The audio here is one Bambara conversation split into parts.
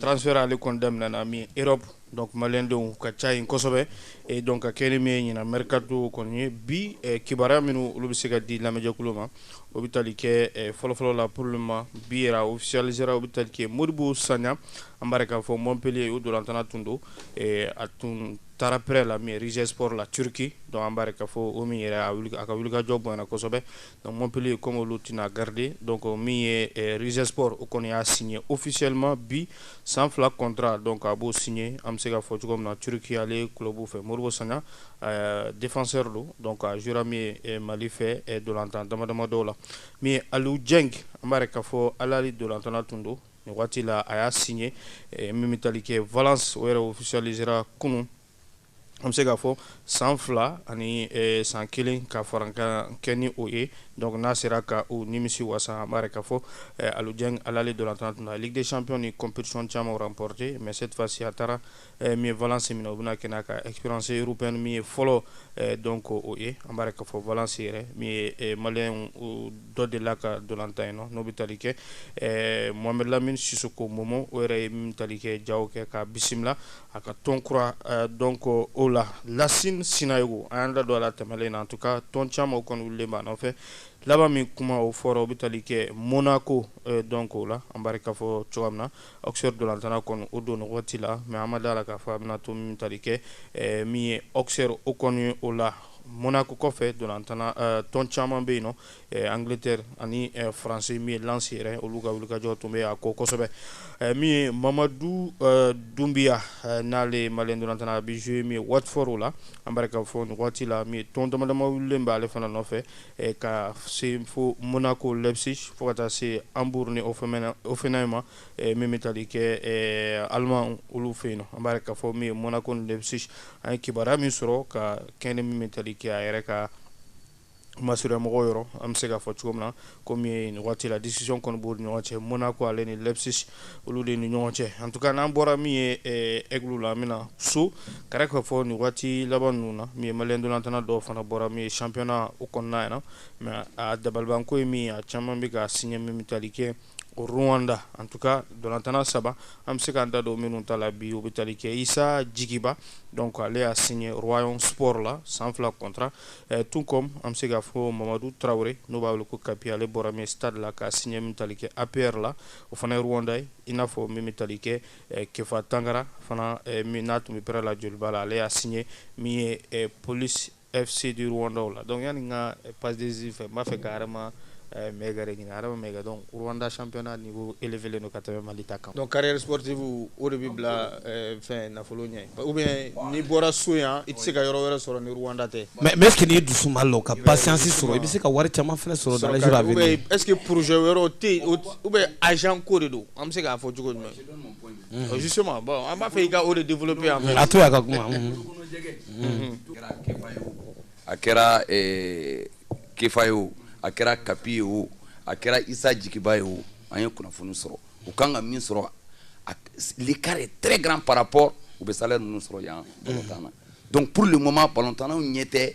transfert ale kɔni daminɛna min Europe donc maliyɛndenw ka ca yen kosɛbɛ et donc ka kɛɲɛ ni min ye ɲinan mercato kɔni ye bi eh, kibaruya minnu olu bɛ se ka di lamɛnjɛkulu ma o bɛ tali kɛ eh, fɔlɔfɔlɔ la pour le moment bi yɛrɛ a officialisera o bɛ tali kɛ Modibo Sagnan an b'a yɛrɛ k'a fɔ Montpellier o dolantana tun don eh, a tun taara prêt la min ye Rizespor la Turquie donc an b'a yɛrɛ k'a fɔ o min yɛrɛ a wuli a ka wulikajɔ bonyana kosɛbɛ Donc Montpellier comme olu tɛna garder donc min ye eh, Rizespor o kɔni y'a signer officiellement bi san fila contrat donc a b'o signer an bɛ se ka fɔ cogo min na Turquie ale club fɛ Modibo Sagnan eh, défenseur don donc a jouera min ye eh, Mali fɛ eh, dolantan dama dama dɔw la min ye Aliou Dieng an b'a yɛrɛ k'a fɔ Al Ahly dolantana tun don nin waati la a y'a signer eh, min bɛ tali kɛ Valence o yɛrɛ officialisera kunun an bɛ se k'a fɔ san fila ani eh, san kelen ka farankan kɛ ni o ye donc n'a sera ka o nimisi wasa an b'a yɛrɛ k'a fɔ eh, aliou dieng al ahly dolantantɔn na ligue des champions ni compétition caman remporté mais cette fois ci a taara eh, min valence min n'o bɛna kɛ n'a ka expérience européenne min ye fɔlɔ eh, donc o ye an b'a yɛrɛ k'a fɔ valence yɛrɛ min ye eh, maliyɛn dɔ delila ka dolantan yen n'o bɛ tali kɛ eh, mohamed lamine sissoko momo o yɛrɛ ye min tali kɛ jaw kɛ k'a bisimila A ka tɔn kura donc o la Lassine Sinayoko an y'an da don a la tɛmɛlen na en tout cas tɔn caman kɔni wulilen b'a nɔfɛ laban min kuma o fɔra o bɛ tali kɛ Monaco donc o la an b'a yɛrɛ k'a fɔ cogoya min na Auxerre dolantana kɔni o don nin waati la mais an ma da la k'a fɔ a bɛna to min tali kɛ min ye Auxerre o kɔni o la Monaco kɔfɛ dolantantɔn caman bɛ yen nɔ Angiletɛri ani faransi min ye Lens yɛrɛ olu ka wulikajɔ tun bɛ a kɔ kosɛbɛ min ye mamadu dunbiya n'ale malien dolantana bɛ jouer min ye Watford la an b'a yɛrɛ k'a fɔ nin waati la min tɔn damadama bɛ ale fana nɔfɛ ka se fo Monaco Leipzig fo ka taa se Hambourg ni o o fana in ma min bɛ tali kɛ Allemagne olu fɛ yen an b'a yɛrɛ k'a fɔ min ye Monaco Leipzig an ye kibaruya min sɔrɔ ka kɛɲɛ ni min bɛ tali kɛ a yɛrɛ ka Masurunyamɔgɔw yɔrɔ an bɛ se k'a fɔ cogo min na comme nin waati la discussion kɔni b'o ɲɔgɔn cɛ Monaco ale ni Leipzig olu de ni ɲɔgɔn cɛ en tout cas n'an bɔra min ye Aigles la min na so ka ka fɔ nin waati laban ninnu na min ye malien dolantana dɔw fana bɔra min ye championnat o kɔnɔna na mais a dabalibanko ye min a caman bɛ ka signer min tali kɛ o Rwanda en tout cas dolantanna saba an bɛ se k'an da don minnu ta la bi o bɛ tali kɛ Isa Jigiba donc ale y'a signé Rayon Sports la san fila contrat eh, tout comme an bɛ se k'a fɔ Mamadu Traoré n'o b'a wele ko Kapi ale bɔra min stade la k'a signé min tali kɛ APR la o fana ye Rwanda ye i n'a fɔ min bɛ tali kɛ eh, Kefa Tangara fana eh, min n'a tun bɛ prêt la Djoliba la ale y'a signé min ye eh, police FC du Rwanda la donc yani n ka eh, passe décisive fɛ n b'a fɛ ka Adama eh, Maïga de ɲini Adama Maïga donc Rwanda championnat niveau élevé len don ka tɛmɛ Mali ta kan donc carrière sportive o de bɛ bila eh, fɛn nafolo ɲɛ ou bien n'i bɔra so yan i tɛ se ka yɔrɔ wɛrɛ sɔrɔ ni Rwanda tɛ mais mais est-ce que n'i dusu ma lɔ ka patience sɔrɔ i bɛ se ka wari caman fana sɔrɔ dans les jours à venir est-ce que projet wɛrɛw tɛ yen ou bien agent ko de don an bɛ se k'a fɔ cogo jumɛn justement bon an b'a fɛ i ka o développer an ye a to y'a ka kuma a kɛra Kefa ye o a kɛra Kapi ye o a kɛra Issa Djiguiba ye o an ye kunnafoni sɔrɔ u kan ka min sɔrɔ l'écart est très grand par rapport u bɛ salaire ninnu sɔrɔ yan na donc pour le moment balontannaw ɲɛ tɛ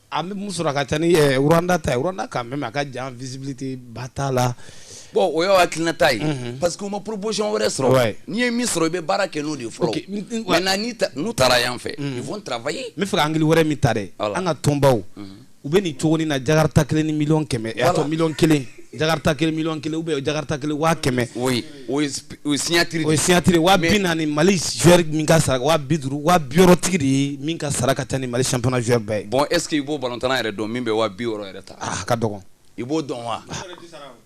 An bɛ mun sɔrɔ a ka ca ni ɛɛ Rwanda ta ye Rwanda quand même a ka jan visibilité ba t'a la bon o y'aw hakilinata ye unhun parce que u ma proposition wɛrɛ sɔrɔ ouais n'i ye min sɔrɔ i bɛ baara kɛ n'o de ye fɔlɔ okay. maintenant n'i ta n'u taara yan fɛ mm. ils vont travailler n bɛ fɛ ka angle wɛrɛ min ta dɛ voilà. an ka tɔnbaw mm -hmm. u bɛ nin cogo nin na jakarta kelen ni miliyɔn kɛmɛ voilà. a tɔ miliyɔn kelen jakarta kelen miliyɔn kelen ou bien jakarta kelen waa kɛmɛ oui o ye signature o ye signature wa bi naani mali joueur min ka sara wa bi duuru wa bi wɔɔrɔ tigi de ye min ka sara ka ca ni mali championnat joueur bɛɛ ye. bon est ce que i b'o balontanna yɛrɛ dɔn min bɛ wa bi wɔɔrɔ yɛrɛ ta. a ka dɔgɔn. i b'o dɔn wa.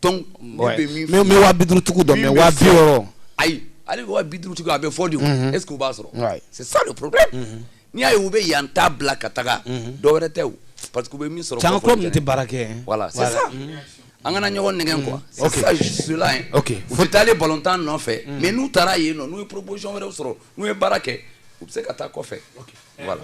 donc ne bɛ min fɔ. n bɛ wa bi duuru tigiw dɔn mais wa bi wɔɔrɔ. ayi hali wa bi duuru tigiw a bɛ fɔ de o. est ce que u b'a sɔrɔ. c'est ça le problème. n'i y'a ye u bɛ yan ta bila ka taga dɔwɛrɛ tɛ o parce que u bɛ min sɔrɔ. can club nin tɛ baara kɛ. voilà c'est ça. an kana ɲɔgɔn nɛgɛn quoi c'est ça je suis là hein ok u tɛ taale balontan nɔfɛ mais n'u taara yen non n'u ye proposition wɛrɛw sɔrɔ n'u ye baara kɛ u bɛ se ka taa kɔfɛ voilà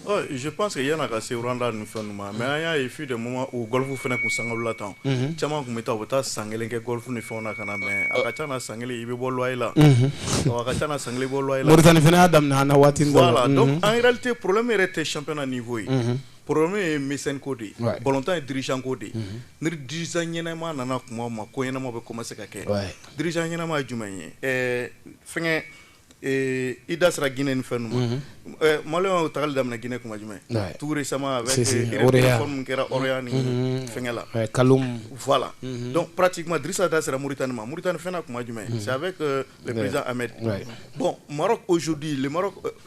Oh, je pense que yan'a ka se Rwanda ni fɛn ma mais an y'a ye fut des moments où Golfe fana kun sanga la ntolatan caman kun bɛ taa u bɛ taa san kelen kɛ Golfe ni fɛnw na ka na mais a ka ca na san kelen i bɛ bɔ loyer la a ka ca na san kelen i bɛ bɔ loyer la Mauritanie fana y'a daminɛ an na waati dɔ la voilà donc en réalité problème yɛrɛ tɛ championnat niveau ye Poro ye miko de ye bɔntan ye dirijanko de ye ni diz ɲɛnama nana tuma ma ko ɲɛnama bɛ kɔma se ka kɛ diriz ɲɛnama ye jumɛn ye ɛɛ fɛn i da sera ginin ni fɛn ma mali y'o tali daminɛ gɛnɛ kuma jumɛn tuurue sama kɛraya ni fɛnkɛla kalo la dɔn pati ma disa da sera mori tan ni ma mori tan ni fɛn kuma jumɛn a bɛ bɔn ozodi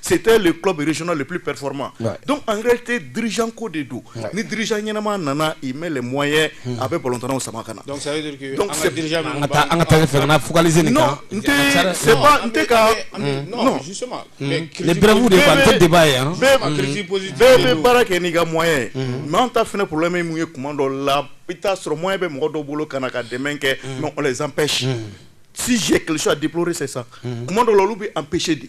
C'était le club régional le plus performant donc en réalité dirigeant ko de don ni dirigeant ɲɛnama nana il met les moyens hmm. a bɛ balontannaw sama ka na donc ça veut dire que an ka dirigeant ninnu an ka taa ɲɛfɛ ka na focaliser nin kan n tɛ c'est pas n tɛ ka non justement hmm. les brèves de quoi n tɛ débat ye an bɛɛ bɛ baara kɛ n'i ka moyen ye hmm. mais an ta fana problème ye mun ye kuma dɔ la i t'a sɔrɔ moyen bɛ mɔgɔ dɔw bolo ka na ka dɛmɛ kɛ mais on les empêche si j'ai quelque chose à déplorer c'est ça kuma dɔw la olu bɛ empêcher de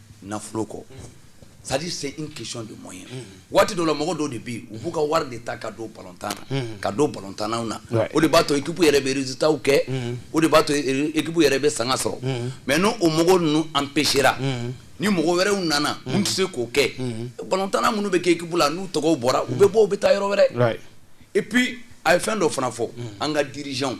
nafolo ko c'est à dire c'est une question de moyen waati dɔ la mɔgɔ dɔw de bɛ yen u b'u ka wari de ta ka don balontan na ka don balontannaw na o de b'a to équipe yɛrɛ bɛ résultats kɛ o de b'a to équipe yɛrɛ bɛ sanga sɔrɔ mais ni o mɔgɔ ninnu empêchera ni mɔgɔ wɛrɛw nana minnu tɛ se k'o kɛ balontanna minnu bɛ kɛ équipe la n'u tɔgɔw bɔra u bɛ bɔ u bɛ taa yɔrɔ wɛrɛ et puis a ye fɛn dɔ fana fɔ an ka dirigeants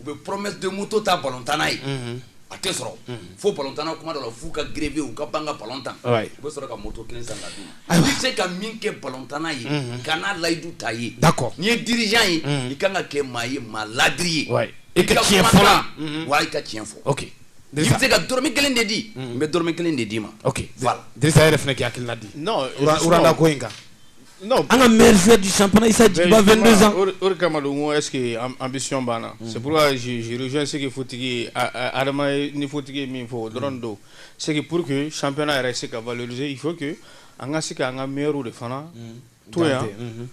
u bɛ promesse de moto ta ballontanna ye, unhun, a tɛ sɔrɔ, unhun, fo ballontanna kuma dɔ la f'u ka grever u ka ban ka ballon tan, oui, u bɛ sɔrɔ ka moto kelen san ka d'u ma, ayiwa, i tɛ se ka min kɛ ballontanna ye, unhun, kan'a layidu t'a ye, d'accord n'i ye dirigeant ye, unhun, i ka kan ka kɛ maa ye maa laadiri ye, oui, i ka tiɲɛ fɔ la, unhun, wa i ka tiɲɛ fɔ, ok, i bɛ se ka dɔrɔmɛ kelen de di, unhun, n bɛ dɔrɔmɛ kelen de d'i ma, ok, voilà, Dirisa e yɛrɛ fana k'i hakilina di, non, Rwanda ko in kan an ka mɛri di san fana isa jigiba fɛn o kama don ko ɛsseke an bɛ sɔn banna se zz seg futigi adama ni futigi ye min fɔ o dɔrɔn don seg pur que san fana yɛrɛ se ka vze fo que an ka se ka an ka miw de fana to yan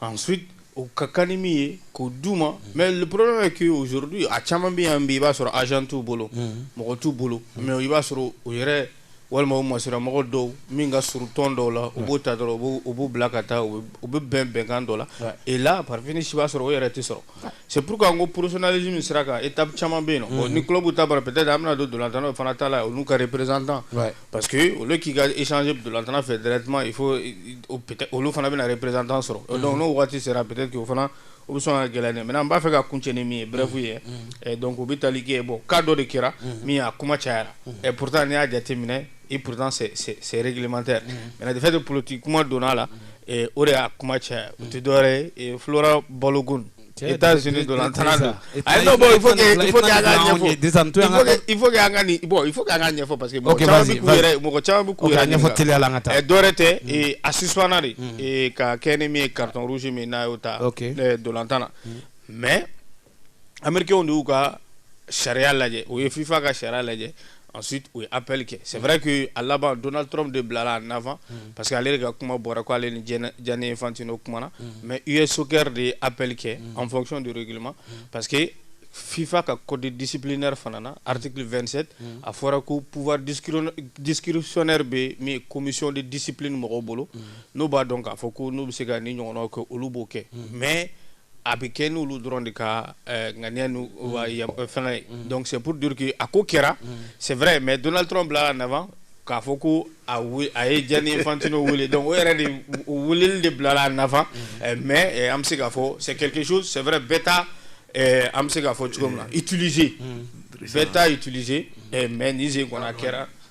an su o ka kan ni min ye k'o d uu ma mɛ poro ke ozouru a caman bɛ yan bi i b'a sɔrɔ azsan t'u bolo mɔgɔ t'u bolo mɛ i b'a sɔrɔ o yɛrɛ walima o masiramɔgɔ dɔw min ka surun tɔn dɔw la u b'o ta dɔrɔn u b'u bila ka taa u bɛ bɛn bɛnkan dɔ la et là par finish i b'a sɔrɔ o yɛrɛ tɛ sɔrɔ c'est pourquoi an ko professionnalisme sira kan étape caman bɛ yen non ni club ta banna peut-être an bɛna don dolantannaw fana ta la olu ka représentant pa parce que au lieu k'i ka échanger dolantanna fɛ directement il faut olu fana bɛna représentant sɔrɔ donc n'o waati sera peut-être o fana o bɛ sɔn ka gilan dɛ maintenant n b'a fɛ ka kuncɛ ni min ye bref ye mm, mm. eh, donc o bɛ tali kɛ bon cas dɔ de kɛra mm. min a kuma cayara et eh, pourtant n'i y'a jateminɛ et pourtant c'est c'est réglementaire maintenant de fait de politique kuma donn'a la eh, o de y'a kuma caya o tɛ dɔwɛrɛ ye Flora Balogun États-Unis dolantanna Il faut que an ka bon il faut que an k'a ɲɛfɔ parce que mɔgɔ caman bɛ k'u yɛrɛ ɲɛfɔ teliya la an ka taa dɔwɛrɛ tɛ a suspendra de ka kɛɲɛ ni min ye carton rouge min n'a y'o ta dolantan na mais américains de y'u ka sariya lajɛ u ye FIFA ka sariya lajɛ Ensuite, u ye appel kɛ c'est vrai que a laban Donald Trump de bilala en avant unhun, parce que ale de ka kuma bɔra ko ale ni Gianni Infantino kumana, unhun, mais US soccer de ye appel kɛ en fonction du règlement parce que FIFA ka code disciplinaire fana na article 27 unhun, a fɔra ko pouvoir discrétionnaire bɛ min commission de discipline mɔgɔw bolo, unhun, n'o b'a dɔn k'a fɔ ko n'u bɛ se ka nin ɲɔgɔnnaw kɛ olu b'o kɛ mais a bɛ kɛ n'olu dɔrɔn de ka eh, ŋaniya n'u ka yam- eh, fɛngɛ ye donc c'est pour dire que a ko kɛra c'est vrai mais Donald Trump bilala en avant k'a fɔ ko a we- a ye Gianni Infantino wele donc o yɛrɛ de o weleli de bilala en avant eh, mais eh, an bɛ se k'a fɔ c'est quelque chose c'est vrai bɛɛ t'a eh, an bɛ se k'a fɔ cogo min na utiliser bɛɛ t'a utiliser eh, mais nin sen kɔni a kɛra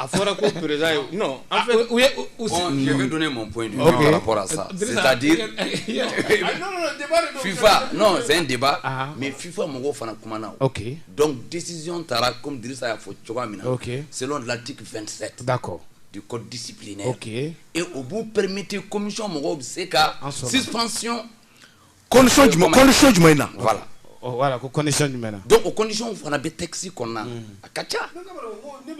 A fɔra ko perez ye nɔn an fɛ u ye ɲɛ don ne ma bɔ in bɔra sa sadi fifa n deba mɛ fifa mɔgɔw fana kuma na o dɔn disizy taara kɔmidisa y'a fɔ cogoya min na se lati fɛnti da kɔ di ko disi bilen e o b'u premete komisɔn mɔgɔw bɛ se ka sisansi condition jumɛn condition jumɛn na voilà voilà ko condition jumɛn na donc o condition fana bɛ texte kɔnɔna mm. a ka ca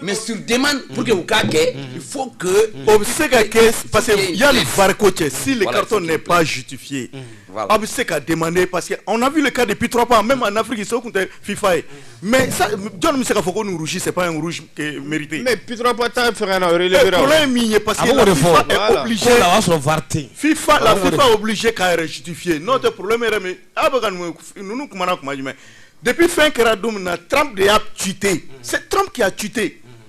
mais sur demande mm. pour que u k'a kɛ mm. il faut que o bɛ se ka kɛ parce que yanni VAR ko cɛ si le carton n'est pas justifié aw bɛ se ka demander parce que on a vu le cas depuis trois ans même en Afrique so tun tɛ FIFA ye mɛ jɔn bɛ se ka fɔ ko nurusi sep ye mite mɛ ptura ye min ye parce que fifa la fifa bilisi ka yɛrɛ siti fiye n'o tɛ poro yɛrɛ min aw bɛ ka ninnu kumaumana kuma jumɛn depi fɛn kɛra don min na tran de y'a cite se tɔnki' cite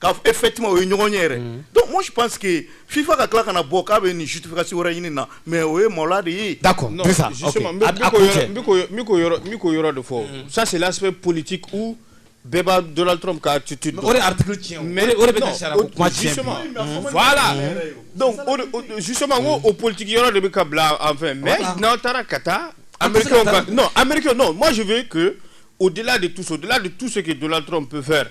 k'a fɔ effectivement o ye ɲɔgɔn ɲɛ yɛrɛ donc moi je pense que FIFA ka tila ka na bɔ k'a bɛ nin justification wɛrɛ ɲini nin na mais o ye maloya de ye, d'accord non justement n bɛ k'o yɔrɔ de fɔ ça c'est l'aspect politique où bɛɛ b'a Donald Trump ka attitude dɔn, o de ye article tiɲɛ o, mais o de bɛ ka sariya ko kuma tiɲɛ, justement voilà donc o de o justement n ko o politique yɔrɔ de bɛ ka bila enfin mais n'aw taara ka taa américains ka non américains non moi je veux que au-delà de tout ça au-delà de tout ce que Donald Trump peut faire